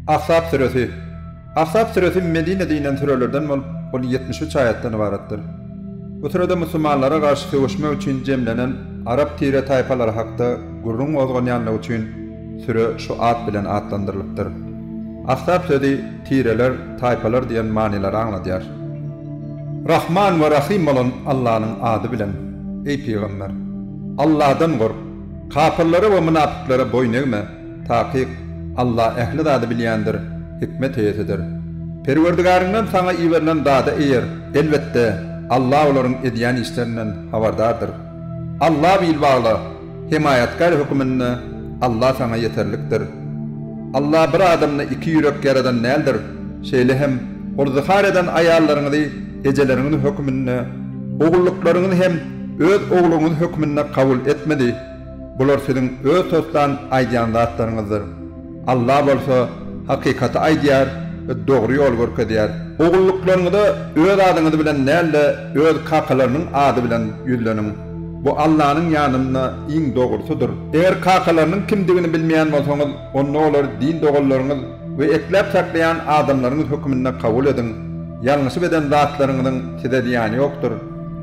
Ahzap süresi. Ahzap süresi Medinede inen sürelerden bolup, ol ýetmiş üç aýatdan ybaratdyr. Bu sürede musulmanlara garşy söweşmek üçin jemlenen arap tire-taýpalary hakda gürrüň gozganýanlygy üçin süre şu at bilen atlandyrylypdyr. Ahzap sözi tireler, taýpalar diýen manylary aňladýar. Rahman we Rahym bolan Allanyň ady bilen, eý pygamber! Alladan gork! Kapyrlara we mynapyklara boýun egme, takyk, Alla ähli zady bilýändir, hikmet eýesidir. Perwerdigaryňdan saňa iberilen zada eýer, elbetde, Alla olaryň edýän işlerinden habardardyr. Alla bil bagla, hemaýatkär höküminde Alla saňa ýeterlikdir. Alla bir adamda iki ýürek ýaradan däldir, şeýle hem Ol zyhar eden aýallaryňyzy ejeleriňiz hökmünde, ogullyklaryňyzy hem öz ogluňyz hökmünde kabul etmedi. Bular siziň öz toslan aýdýan zatlaryňyzdyr. Alla bolsa hakykaty aýdýar we dogry ýoly görkezýär. Ogullyklaryňyza öz adyňyz bilen däl-de, öz kakalarynyň ady bilen ýüzleniň. Bu Allanyň ýanynda iň dogrusydyr. Eger kakalarynyň kimdigini bilmeýän bolsaňyz, onda olar din doganlaryňyz. we ekläp saklaýan adamlaryňyz höküminde kabul ediň, ýalňyşyp eden zatlaryňyzyň size zyýany ýokdur,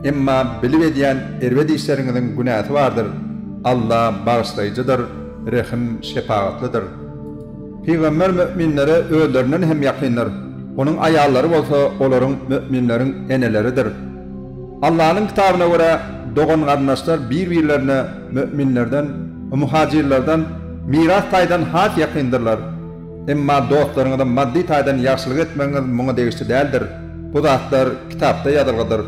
emma bilip edýän erbet işleriňiziň günäsi bardyr, Alla bagyşlaýjydyr, rehim, şepagatlydyr. Pygamber möminlere özlerinden hem ýakyndyr, onuň aýallary bolsa olaryň, möminleriň, eneleridir. Allanyň kitabyna görä, dogan-garyndaşlar bir-birlerine, Möminlerden we muhajirlerden miras taýdan has ýakyndyrlar. Emma dostlaryňyza maddy taýdan ýagşylyk etmegiňiz muňa degişli däldir. Bu zatlar Kitapda ýazylgydyr.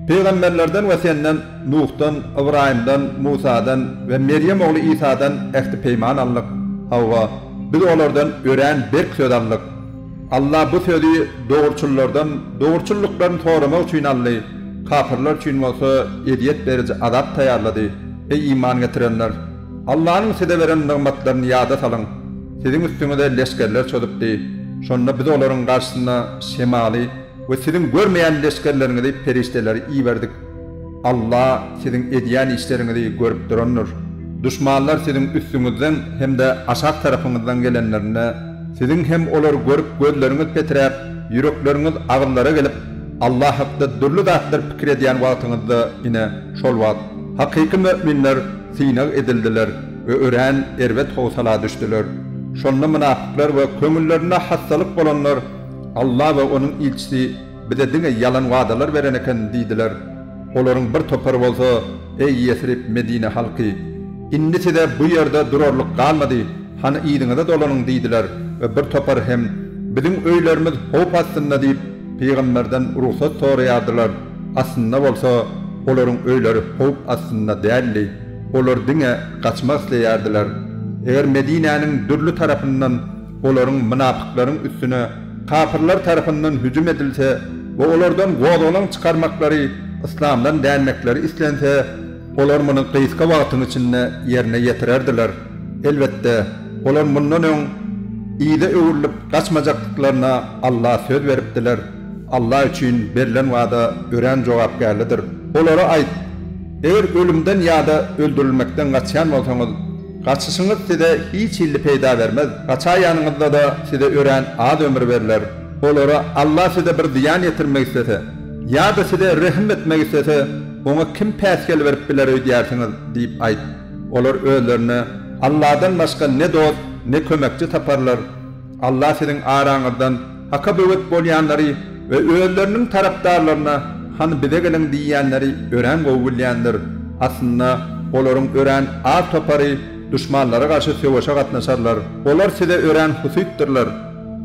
Pygamberlerden we senden, Nuhdan, Ybraýymdan, Musadan we Merýem ogly Isadan ähti-peýman alnyk. Hawa, Biz olardan örän berk söz aldyk. Allah bu sözi dogruçyllardan dogruçyllyklaryny soramak üçin aldy, kapyrlar üçin bolsa ezýet beriji azap taýýarlady. Eý iman getirenler! Allanyň size beren nygmatlaryny ýada salyň. Siziň üstüňize leşgerler çozupdy. Şonda Biz olaryň garşysyna şemaly, We siziň görmeýän leşgerleriňizi perişdeleri iberdik. Alla siziň edýän işleriňizi görüp durandyr. Duşmanlar siziň üstüňizden hem-de aşak tarapyňyzdan gelenlerinde, siziň hem olary görüp gözleriňiz petiräp, ýürekleriňiz agyzlara gelip, Alla hakda dürli zatlar pikir edýän wagtyňyzda, ine, şol wagt, hakyky möminler synag edildiler we örän erbet howsala düşdüler. Şonda mynapyklar we köňüllerinde hassalyk bolanlar, Alla we Onuň ilçisi bize diňe ýalan wadalar beren eken diýdiler. Olaryň bir topary bolsa, Eý Ýesrib, Medine halky! Indi size bu ýerde durarlyk galmady, hany yzyňyza dolanyň diýdiler we bir topary hem, Biziň öýlerimiz howp astynda diýip, pygamberden rugsat soraýardylar, aslynda bolsa, olaryň öýleri howp astynda däldi, olar diňe gaçmak isleýärdiler. Eger Medinäniň dürli tarapyndan olaryň, mynapyklaryň, üstüne kapyrlar tarapyndan hüjüm edilse we olardan gozgalaň çykarmaklary, yslamdan dänmekleri islense, olar muny gysga wagtyň içinde ýerine ýetirerdiler. Elbetde, olar mundan öň yza öwrülip gaçmajakdyklaryna Alla söz beripdiler. Alla üçin berlen wada örän jogapkärlidir. Olara aýt, Eger ölümden ýa-da öldürilmekden gaçýan bolsaňyz, Gaçyşyňyz size hiç hilli peýda bermez. Gaçaýanyňyzda-da size örän az ömür berler. Olara Alla size bir zyýan ýetirmek islese, ýa-da size rehim etmek islese, oňa kim päsgel berip biler öýdýärsiňiz? diýip aýt. Olar özlerine Alladan başga ne dost, ne kömekçi taparlar. Alla siziň araňyzdan Haka böwet bolýanlary we özleriniň tarapdarlaryna hany bize geliň diýýänleri örän gowy bilýändir. Aslynda olaryň örän az topary duşmanlara garşy söweşe gatnaşarlar. Olar size örän husytdyrlar.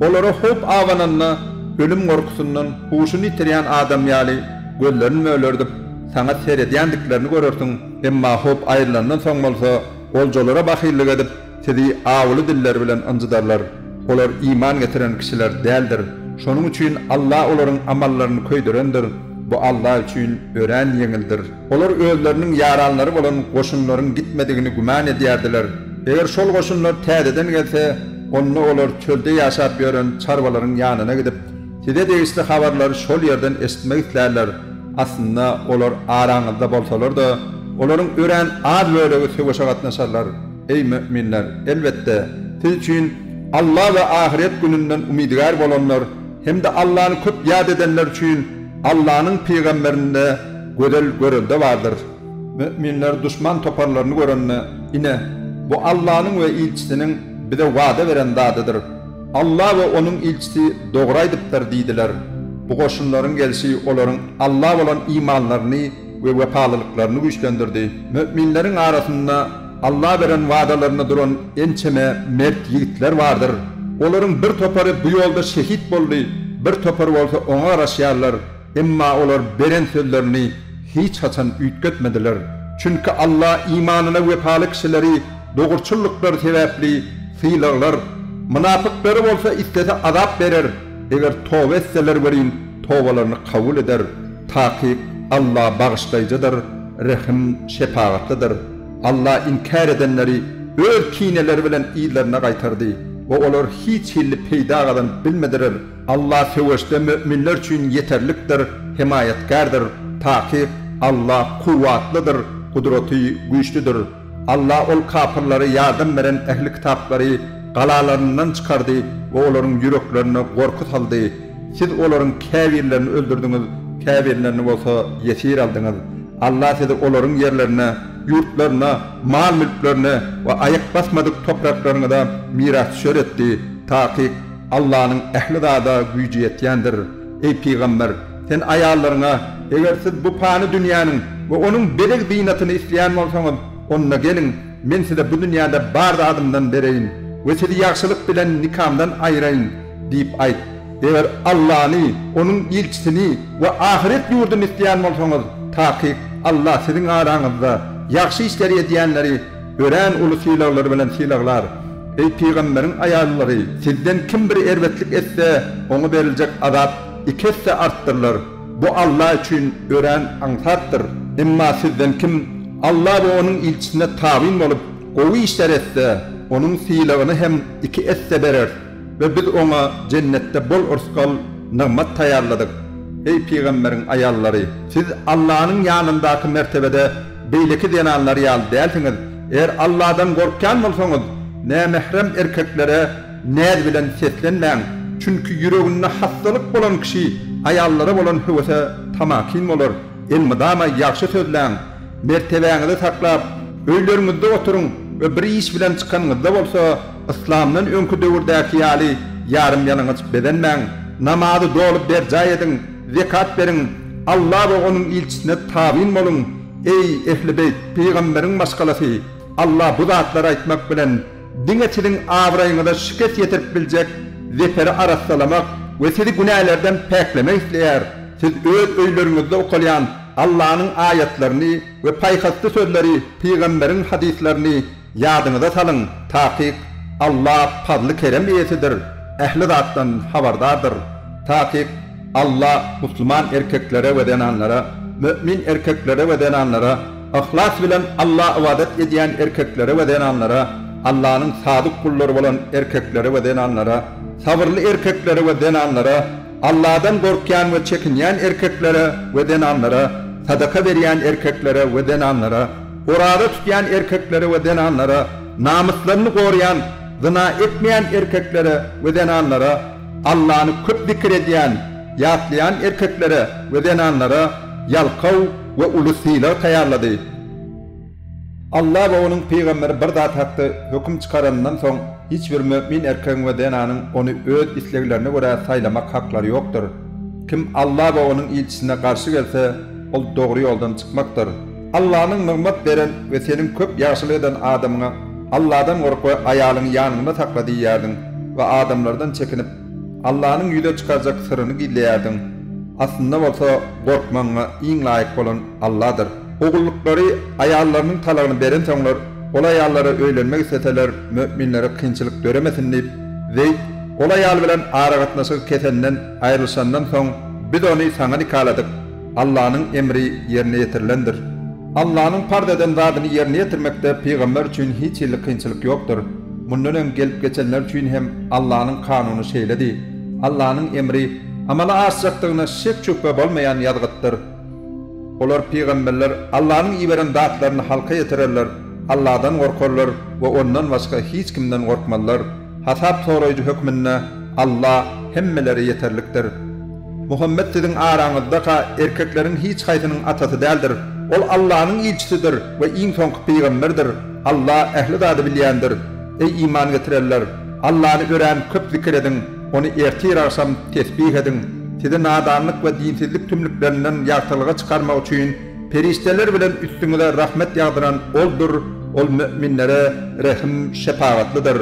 Olara howp abananda ölüm gorkusyndan huşuny ýitirýän adam ýaly gözlerini mölerdip saňa seredýändiklerini görersiň, emma howp aýrylandan soň bolsa oljalara bahyllyk edip, Sizi awuly diller bilen ynjydarlar. Olar iman getiren kişiler däldir. Şonuň üçin Allah olaryň amallaryny köýdürendir, bu Allah üçin örän ýeňildir. Olar özleriniň ýaranlary bolan goşunlaryň gitmedigini güman edýärdiler. Eger şol goşunlar täzeden gelse, onda olar çölde ýaşap ýören çarwalaryň ýanyna gidip, size degişli habarlary şol ýerden eşitmek islärler. Aslynda, olar araňyzda bolsalar-da, olaryň örän az bölegi söweşe gatnaşarlar. Eý, möminler! Elbetde, siz üçin Alla we ahyret gününden umydygär bolanlar hem-de Allany köp ýat edenler üçin Allanyň pygamberinde gözel görelde bardyr. Möminler duşman toparlaryny görende, Ine, bu Allanyň we ilçisiniň bize wada beren zadydyr. Alla we onuň ilçisi dogry aýdypdyr diýdiler. Bu goşunlaryň gelşi olaryň Alla bolan imanlaryny we wepalylyklaryny güýçlendirdi. Möminleriň arasynda Alla beren wadalarynda duran ençeme mert ýigitler bardyr. Olaryň bir topary bu ýolda şehit boldy, bir topary bolsa oňa garaşýarlar, emma olar beren sözlerini hiç haçan üýtgetmediler. Çünki Alla imanyna wepaly kişileri dogruçyllyklary sebäpli sylaglar, mynapyklary bolsa islese azap berer. Eger toba etseler welin tobalaryny kabul eder, takyk Alla bagyşlaýjydyr, rehim, şepagatlydyr. Alla inkär edenleri öz kineleri bilen yzlaryna gaýtardy we olar hiç hilli peýda gazanyp bilmedirer. Alla söweşde möminler üçin ýeterlikdir, hemaýatkärdir, takyk Alla kuwwatlydyr, gudraty güýçlüdir. Allah ol kapyrlara ýardam beren ähli kitaplary galalaryndan çykardy we olaryň ýüreklerine gorky saldy. Siz olaryň käbirlerini öldürdiňiz, käbirlerini bolsa ýesir aldyňyz. Allah sizi olaryň ýerlerine, ýurtlaryna, mal-mülklerine we aýak basmadyk topraklaryňyza mirasdüşer etdi. Takyk, Allanyň ähli zada güýji ýetýändir. Eý, pygamber! Sen aýallaryňa, Eger siz bu pany dünýäniň we onuň bezeg-zynatyny isleýän bolsaňyz, onda geliň, men size bu dünýäde bar zadymdan bereýin we sizi ýagşylyk bilen nikamdan aýraýyn! diýip aýt. Eger Allany, Onuň ilçisini we ahyret ýurduny isleýän bolsaňyz, takyk Alla siziň araňyzda ýagşy işleri edýänleri Örän uly sylaglar bilen sylaglar. Eý, pygamberiň aýallary, sizden kim bir erbetlik etse, oňa beriljek azap iki esse artdyrylar. Bu Alla üçin örän aňsatdyr. Emma sizden kim Alla we Onuň ilçisine tabyn bolup, gowy işler etse, onuň sylagyny hem iki esse bereris. we biz oňa Jennetde bol rysgal, nygmat taýýarladyk. Eý, pygamberiň aýallary! Siz Allanyň ýanyndaky mertebede beýleki zenanlar ýaly dälsiňiz. Eger Alladan gorkýan bolsaňyz, nämährem erkeklere näz bilen seslenmäň, çünki ýüreginde hassalyk bolan kişi aýallara bolan höwese tamakin bolar. Elmydama ýagşy sözläň. Mertebäňizi saklap, öýleriňizde oturyň we bir iş bilen çykanyňyzda bolsa, Yslamdan öňki döwürdäki ýaly ýarym-ýalaňaç bezenmäň, namazy doly berjaý ediň, zekat beriň, Alla we Onuň ilçisine tabyn boluň, eý, ehli-beýt, pygamberiň maşgalasy, Alla bu zatlary aýtmak bilen, diňe siziň abraýyňyza şikes ýetirip biljek zeferi arassalamak we sizi günälerden päklemek isleýär, siz öz öýleriňizde okalýan Allanyň aýatlaryny we paýhasly sözleri, pygamberiň hadyslaryny, Ýadyňyza salyň, Takyk, Alla pazly-kerem eýesidir, ähli zatdan habardardyr. Takyk, Alla musulman erkeklere we zenanlara, mömin erkeklere we zenanlara, yhlas bilen Alla ybadat edýän erkeklere we zenanlara, Allanyň sadyk gullary bolan erkeklere we zenanlara, sabyrly erkeklere we zenanlara, Alladan gorkýan we çekinýän erkeklere we zenanlara, sadaka berýän erkeklere we zenanlara, Oraza tutýan erkeklere we zenanlara, namyslaryny goraýan, zyna etmeýän erkeklere we zenanlara, Allany köp zikir edýän, ýatlaýan erkeklere we zenanlara ýalkaw we uly sylag taýýarlady. Alla we Onuň pygamberi bir zat hakda höküm çykaranyndan soň, hiç bir mömin erkegiň we zenanyň ony öz isleglerine görä saýlamak haklary ýokdur. Kim Alla we Onuň ilçisine garşy gelse, ol dogry ýoldan çykmakdyr. Allanyň nygmat beren we seniň köp ýagşylyk eden adamyňa, Alladan gork we aýalyňy ýanyňda sakla diýýärdiň we adamlardan çekinip, Allanyň ýüze çykarjak syryny gizleýärdiň. Aslynda bolsa, gorkmagyňa iň laýyk bolan Alladyr. Ogullyklary aýallarynyň talagyny berensoňlar, ol aýallara öýlenmek isleseler, möminlere kynçylyk döremesin diýip, Zeýd, ol aýal bilen aragatnaşygy kesenden, aýrylyşandan soň, Biz ony saňa nikaladyk. Allanyň emri ýerine ýetirilendir. Allanyň parz eden zadyny ýerine ýetirmekde pygamber üçin hiç hili kynçylyk ýokdur. Mundan öň gelip geçenler üçin hem Allanyň kanuny şeýledi. Allanyň emri amala aşjakdygyna şek-şübhe bolmaýan ýazgytdyr. Olar, pygamberler, Allanyň iberen zatlaryny halka ýetirerler, Alladan gorkarlar we Ondan başga hiç kimden gorkmazlar. Hasap soraýjy hökmünde Alla hemmelere ýeterlikdir. Muhammet siziň araňyzdaka erkekleriň hiç haýsynyň atasy däldir. Ol Allanyň ilçisidir we iň soňky pygamberdir. Alla ähli zady bilýändir. Eý iman getirenler! Allany örän köp zikir ediň, Ony ertir-agşam tesbih ediň. Sizi nadanlyk we dinsizlik tümlüklerinden ýagtylyga çykarmak üçin Perişdeler bilen üstüňize rahmet ýagdyran Oldur, Ol möminlere rehim, şepagatlydyr.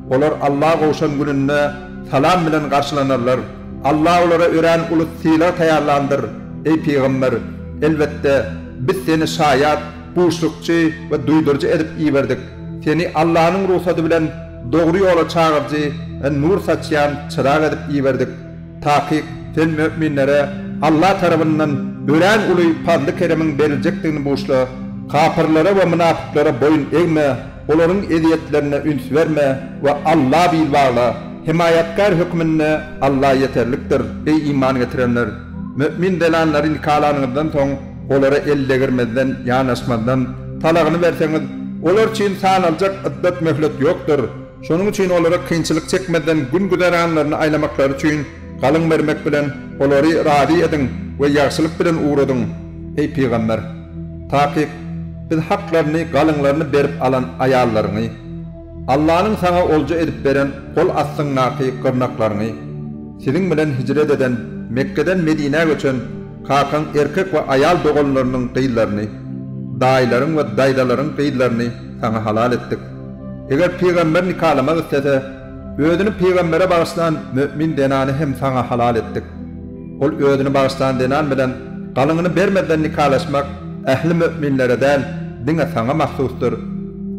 Olar Alla gowşan gününde salam bilen garşylanarlar. Alla olara örän uly sylag taýýarlandyr. Eý pygamber! Elbetde, Biz seni şaýat, buşlukçy we duýduryjy edip iberdik. Seni Allanyň rugsady bilen dogry ýola çagyryjy we nur saçýan çyrag edip iberdik. Takyk, sen möminlere Alla tarabyndan örän uly pazly-keremiň beriljekdigini buşla. Kapyrlara we mynapyklara boýun egme, olaryň ezýetlerine üns berme we Alla bil bagla. Hemaýatkär hökmünde Alla ýeterlikdir. Eý, iman getirenler! Mömin zenanlary nikalanyňyzdan soň, olara el degirmezden, ýanaşmazdan, talagyny berseňiz, olar üçin sanaljak yddat-möhlet ýokdur. Şonuň üçin olara kynçylyk çekmezden gün-güzeranlaryny aýlamaklary üçin galyň bermek bilen olary razy ediň we ýagşylyk bilen ugradyň, eý, pygamber! Takyk, Biz haklaryny, galyňlaryny berip alan aýallaryňy, Allanyň saňa olja edip beren gol astyňdaky gyrnaklaryňy, siziň bilen hijret eden, Mekgeden Medinä göçen, kakaň erkek we aýal doganlarynyň gyzlaryny, daýylaryň we daýzalaryň gyzlaryny saňa halal etdik. Eger pygamber nikalamak islese, özüni pygambere bagyşlan mömin zenany hem saňa halal etdik. Ol özüni bagyşlan zenan bilen galyňyny bermezden nikalaşmak ähli möminlere däl, diňe saňa mahsusdyr.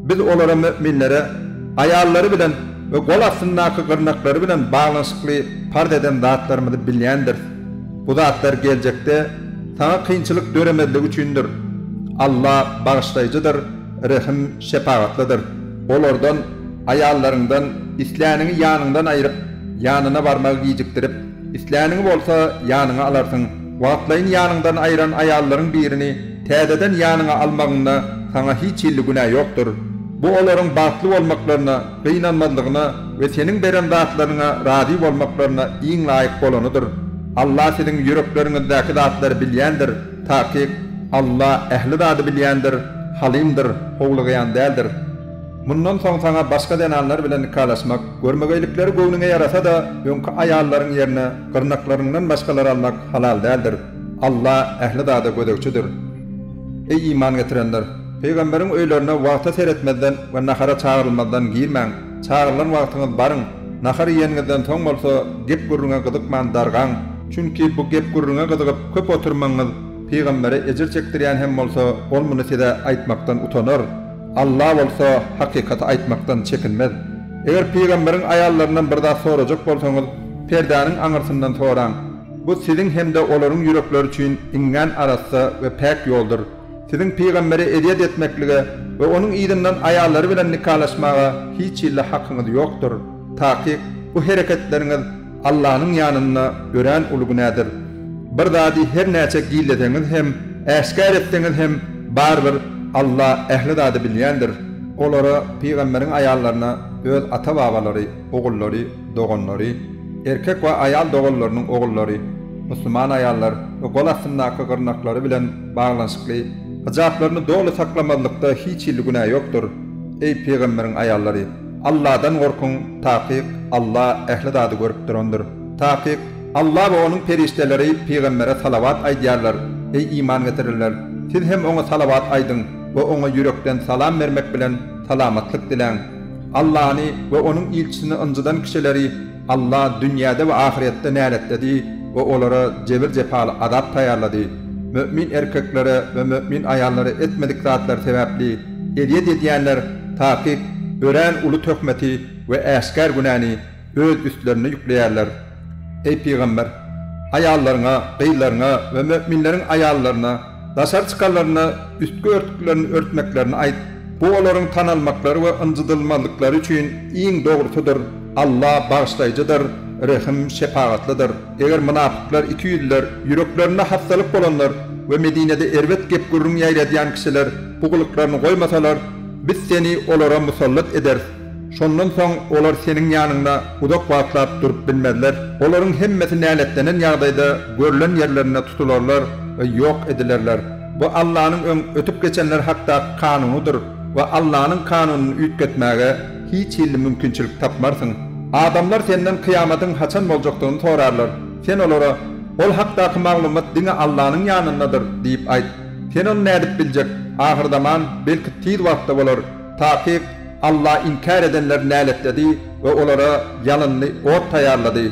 Biz olara, möminlere, aýallary bilen we gol astyndaky gyrnaklary bilen baglanyşykly parz eden zatlarymyzy bilýändiris. Bu zatlar geljekde saňa kynçylyk döremezligi üçindir. Alla Bagyşlaýjydyr, Rehim şepagatlydyr. Olardan, aýallaryňdan, isläniňi ýanyňdan aýryp, ýanyna barmagy gijikdirip, isläniňi bolsa ýanyňa alarsyň. Wagtlaýyn ýanyňdan aýran aýallaryň birini täzeden ýanyňa almagyňda saňa hiç hilli günä ýokdur. Bu olaryň bagtly bolmaklaryna, gynanmazlygyna we seniň beren zatlaryňa razy bolmaklaryna iň laýyk bolanydyr. Alla siziň ýürekleriňizdäki zatlary bilýändir. Takyk, Alla ähli zady bilýändir, Halymdyr, howlugýan däldir. Mundan soň saňa başga zenanlar bilen nikalaşmak, görmegeýlikleri göwnüňe ýarasa-da, öňki aýallaryň ýerine gyrnaklaryňdan başgalary almak halal däldir. Alla ähli zada gözegçidir. Eý iman getirenler! Pygamberiň öýlerine wagta seretmezden we nahara çagyrylmazdan girmäň. Çagyrylan wagtyňyz baryň. Nahar iýeniňizden soň bolsa gep-gürrüňe gyzykman dargaň. Çünki bu gep-gürrüňe gyzygyp köp oturmagyňyz pygambere ejir çekdirýän hem bolsa, ol muny size aýtmakdan utanar. Alla bolsa hakykaty aýtmakdan çekinmez. Eger pygamberiň aýallaryndan bir zat sorajak bolsaňyz, perdäniň aňyrsyndan soraň. Bu siziň hem-de olaryň ýürekleri üçin iňňän arassa we päk ýoldur. Siziň pygamberi ezýet etmeklige we onuň yzyndan aýallary bilen nikalaşmaga hiç hilli hakyňyz ýokdur. Takyk, bu hereketleriňiz Allanyň ýanynda örän uly günädir. Bir zady her näçe gizleseňiz hem, äşgär etseňiz hem, barybir Alla ähli zady bilýändir. Olara, pygamberiň aýallaryna, öz ata-babalary, ogullary, doganlary, erkek we aýal doganlarynyň ogullary, musulman aýallar we gol astyndaky gyrnaklary bilen baglanyşykly hyjaplaryny doly saklamazlykda hiç hili günä ýokdur, eý, pygamberiň aýallary, Alladan gorkuň, takyk Alla ähli zady görüp durandyr, takyk Alla we Onuň perişdeleri pygambere salawat aýdýarlar, eý, iman getirenler, siz hem oňa salawat aýdyň we oňa ýürekden salam bermek bilen salamatlyk diläň. Allany we Onuň ilçisini ynjydan kişileri Alla dünýäde we ahyretde näletledi we olara jebir-jepaly azap taýýarlady. Mömin erkeklere we mömin aýallara etmedik zatlary sebäpli ezýet edýänler takyk örän uly töhmeti we äşgär günäni, öz üstlerine ýükleýärler. Eý, pygamber! Aýallaryňa, gyzlaryňa we möminleriň aýallaryna daşary çykanlarynda üstki örtüklerini örtmeklerini aýt, bu olaryň tanalmaklary we ynjydylmazlyklary üçin iň dogrusydyr, Alla Bagyşlaýjydyr, Rehim, Şepagatlydyr. Eger mynapyklar, ikiýüzlüler, ýüreklerinde hassalyk bolanlar we Medinede erbet gep-gürrüň ýaýradýan kişiler bu gylyklaryny goýmasalar, Biz seni olara musallat ederis. Şondan soň olar seniň ýanyňda uzak wagtlap durup bilmezler. Olaryň hemmesi näletlenen ýagdaýda görlen ýerlerinde tutularlar we ýok edilerler. Bu Allanyň öň ötüp geçenler hakdaky kanunydyr we Allanyň kanunyny üýtgetmäge hiç hilli mümkinçilik tapmarsyň. Adamlar senden kyýamatyň haçan boljakdygyny sorarlar. Sen olara, Ol hakdaky maglumat diňe Allanyň ýanyndadyr diýip aýt. Sen ony nädip biljek? Ahyrzaman, belki, tiz wagtda bolar. Takyk, Alla inkär edenleri näletledi we olara ýalynly ot taýýarlady.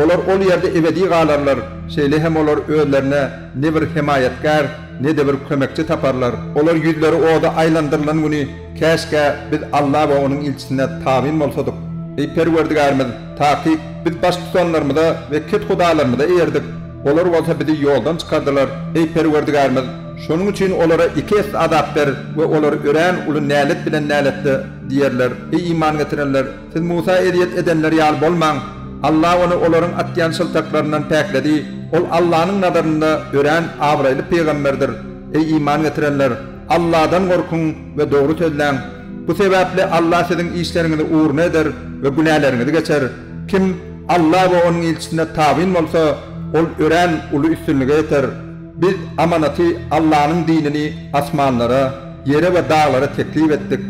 Olar ol ýerde ebedi galarlar, şeýle hem olar özlerine ne bir hemaýatgär, ne-de bir kömekçi taparlar. Olar ýüzleri oda aýlandyrylan güni, Käşgä biz Alla we Onuň ilçisine tabyn bolsadyk! Eý Perwerdigärimiz! Takyk, biz baştutanlarymyza we kethudalarymyza eýerdik. Olar bolsa bizi ýoldan çykardylar. Eý, Perwerdigärimiz! Şonuň üçin olara iki esse azap ber we olar örän uly nälet bilen näletle! diýerler. Eý, iman getirenler! Siz Musa ezýet edenler ýaly bolmaň! Alla ony olaryň atýan şyltaklaryndan päkledi. Ol Allanyň nazarynda örän abraýly pygamberdir. Eý, iman getirenler! Alladan gorkuň we dogry sözläň! Bu sebäpli Alla siziň işleriňizi ugruna eder we günäleriňizi geçer. Kim. Alla we Onuň ilçisine tabyn bolsa, ol örän uly üstünlige ýeter. Biz amanaty Allanyň dinini asmanlara, ýere we daglara teklip etdik.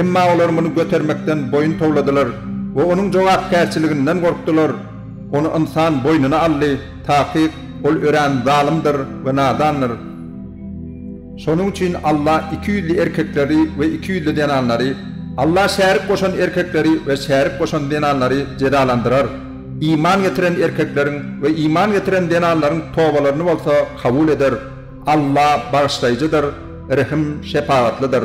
Emma olar muny götermekden boýun towladylar we Onuň jogapkärçiliginden gorkdular. Ony ynsan boýnuna aldy, takyk, ol örän zalymdyr we nadandyr. Şonuň üçin Alla iki ýüzli erkekleri we iki ýüzli zenanlary, Alla şärik goşan erkekleri we şärik goşan zenanlary jezalandyrar, iman getiren erkekleriň we iman getiren zenanlaryň tobalaryny bolsa kabul eder, Alla Bagyşlaýjydyr, Rehim, Şepagatlydyr.